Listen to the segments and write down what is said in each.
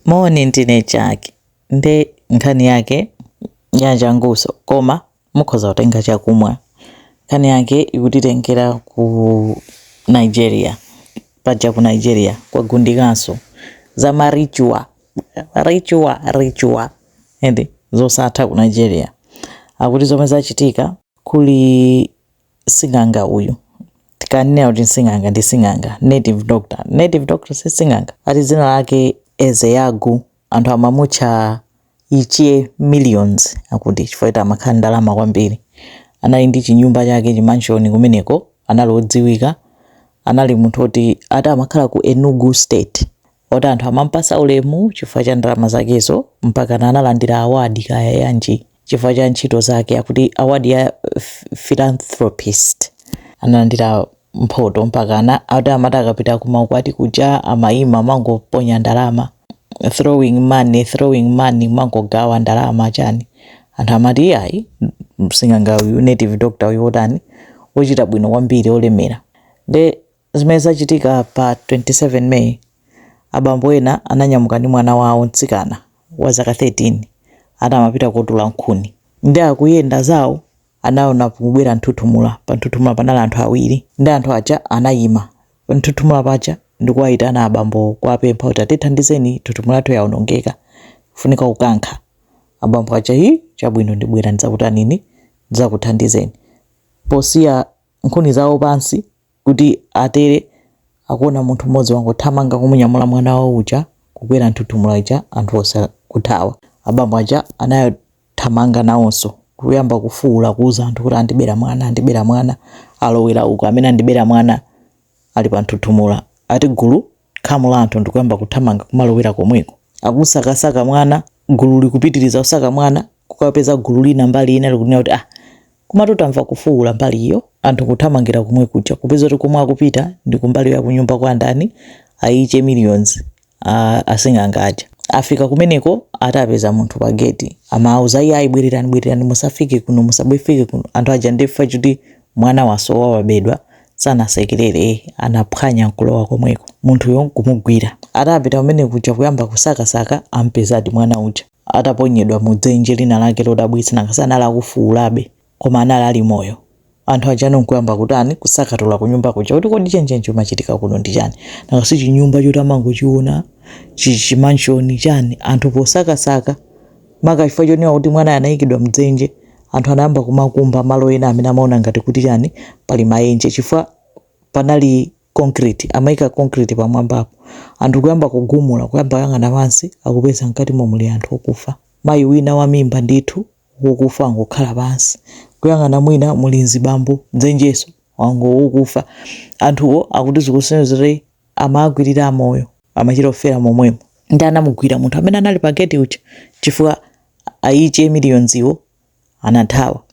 Moni ndine Jack nde nkhani yake yachanguso koma mukhoza kutenga chakumwa. Nkhani yake ikutitengera ku Nigeria. Paja ku Nigeria kwagundikaso za ma ritual ritual ritual eti zosatha ku Nigeria. Akuti zomwe zachitika kuli sing'anga uyu tikanena kuti sing'anga ndi sing'anga native doctor native doctor si sing'anga ati dzina lake ezeyagu anthu amamutcha ichie millions akuti chifukwa ati amakhala ndalama kwambiri anali ndi chinyumba chake chimanshoni kumeneko anali odziwika anali munthu oti ati amakhala ku enugu state oti anthu amampasa ulemu chifukwa cha ndalama zakezo mpakana analandira awadi kaya yanji chifukwa cha ntchito zake akuti awadi ya philanthropist analandira mphoto mpakana ati amati akapita kumaukwati kuja amayima amangoponya ndalama throwing money throwing money mangogawa ndalama chani anthu amati iyayi sing'anga uyu native doctor uyu otani ochita bwino kwambiri olemera nde Zimene zachitika pa 27 May, Abambo ena ananyamuka ndi mwana wawo mtsikana wa zaka 13 ati amapita kotola nkhuni nde akuyenda zawo anaona kukubwera nthuthumula, pa nthuthumula panali anthu awiri nde anthu aja anayima panthuthumula paja ndikuwayitana abambowo kuwapempha kuti atithandizeni nthuthumula yathu yaonongeka ifunika kukankha, abambo aja hii chabwino ndibwera ndidzakutanini, ndidzakuthandizeni, posiya nkhuni zawo pansi Kuti atere, akuona munthu m'modzi wangothamanga kumunyamula mwana wawo uja kukwera nthuthumula ija anthu onse nkuthawa. Abambo aja anayothamanga nawonso kuyamba kufuula kuuza anthu kuti andibera mwana, andibera mwana, alowera uko, amene andibera mwana ali panthuthumula, ati gulu Khamu la anthu ndikuyamba kuthamanga kumalowera komweko. Akusakasaka mwana, gulu likupitiriza kusaka mwana, kukapeza gulu lina mbali ina likunena kuti, ah, komatu tamva kufuwula mbali iyo. Anthu nkuthamangira komwe kuja, kupeza kuti komwe akupita ndi kumbali ya kunyumba kwa ndani, a Ichie Millions, a asing'anga aja. Afika kumeneko ati apeza munthu pa geti, amawauza, iyayi bwererani, bwererani, musafike kuno, musabwefike kuno. Anthu aja ndiye chifukwa choti Mwana wasowa wabedwa sanasekelele eh anaphwanya nkulowa komweko munthuyo nkumugwira atapita kumwe kuja kuyamba kusaka saka ampezadi mwana uja ataponyedwa mu dzenje lina lake lodabwitsa nanga si anali akufuulabe koma anali ali moyo anthu aja no nkuyamba kutani kusakatula kunyumba kuja kuti kodi chenicheni chimachitika kuno ndi chani nanga si chinyumba choti amangochiona chi- chimanshoni chani anthu posakasaka Maka chifukwa chonena kuti mwanayo anayikidwa mdzenje, anthu anayamba kumakumba malo ena amene amaona ngati kuti chani, pali maenje chifukwa panali concrete, amayika concrete pamwambapo, anthu kuyamba kugumula, kuyamba kuyang'ana pansi akupeza mkatimo muli anthu okufa. Mayi wina wa mimba ndithu wokufa wangokhala pansi, kuyang'ana mwina muli mzibambo, mdzenjeso, wango wokufa. Anthuwo akuti zikusonyeza kuti. amawagwirira amoyo amachita kufera momwemo. Nde anamugwira munthu amene anali pa gate uja chifukwa aiche millions wo anathawa.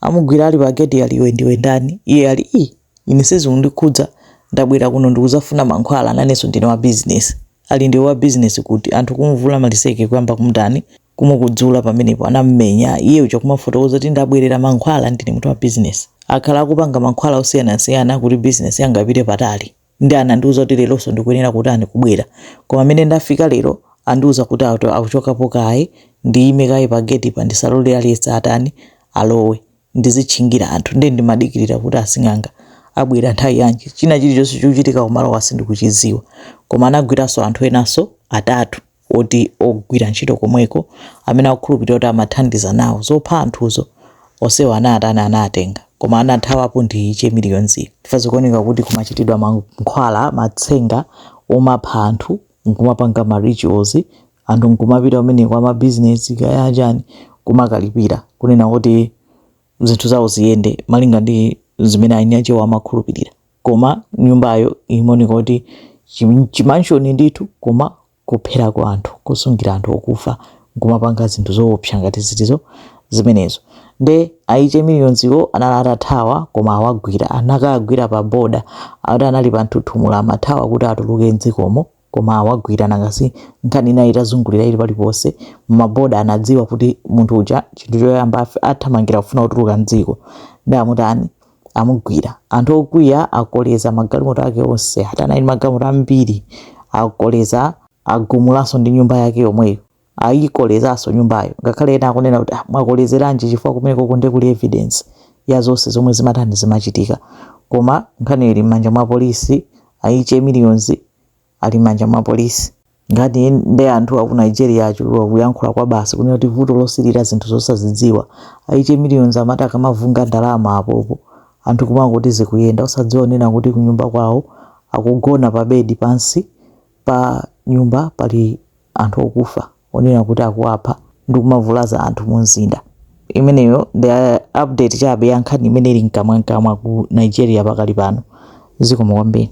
Amugwira ali pa gate ali iwe ndiwe ndani? Iye ali ine sizikundikhudza ndabwera kuno ndikuzafuna mankhwala nanenso ndine wa business. Ali ndiwe wa business kuti anthu kumuvula maliseke kuyamba kumutani kumukudzula pamenepo anamumenya iye uja kumafotokoza kuti ndabwerera mankhwala ndine munthu wa business akhala akupanga mankhwala osiyanasiyana kuti business yanga ipite patali nde anandiuza kuti leronso ndikuyenera kutani kubwera koma mmene ndafika lero andiuza kuti ato akuchokapo kaye ndiyime kaye pa gate pa ndisalole aliyense atani alowe ndizitchingira anthu ndiye ndimadikirira kuti asing'anga abwera nthawi yanji china chilichonse chikuchitika kumalowa sindikuchiziwa koma anagwiranso anthu enanso atatu oti ogwira ntchito komweko amene akukhulupilira kuti amathandiza nawo zopha anthuzo onsewo anatani anatenga koma anathawapo ndi che millions yo chifukwa zikuoneka kuti kumachitidwa mankhwala matsenga omapha anthu nkumapanga ma rituals anthu nkumapita kumeneko ama business kaya achani kumakalipira kunena kuti zinthu zawo ziyende malinga ndi zimene eni akewo amakhulupilira. koma nyumbayo imoneka kuti chi- chimanshoni ndithu koma kopherako anthu kosungira anthu okufa nkumapanga zinthu zoopsa ngati zitizo zimenezo nde aiche millions wo anali atathawa koma awagwira anakagwira pa boda akuti anali pa nthuthumula amathawa kuti atuluke mdzikomo koma awagwira nanga si nkhani inali itazungulira ili paliponse mmaboda anadziwa kuti munthu uja chinthu choyamba afe- athamangira kufuna kutuluka mdziko nde amutani amugwira anthu okwiya akoleza magalimoto ake onse ati anali magalimoto ambiri akoleza agumulanso ndi nyumba yake yomweyo ayikolezanso nyumbayo ngakhale ena akunena kuti ah, mwakolezeranji chifukwa kumeneko nde kuli evidence ya zonse zomwe zimatani zimachitika koma nkhani ili mmanja mwa polisi ayiche millions ali mmanja mwa polisi ngati nde anthu aku nigeria achulukwa kuyankhula kwabasi kunena kuti vuto losilira zinthu zosazidziwa ayiche millions amati akamavungira ndalama apopo anthu kumangoti zikuyenda osadziwa kunena kuti kunyumba kwawo akugona pa bedi pansi pa nyumba pali anthu okufa onena kuti akuwapha ndi kumavulaza anthu mu mzinda. Imeneyo ndi update chabe ya nkhani imene ili mkamwamkamwa ku Nigeria pakali pano. Zikomo kwambiri.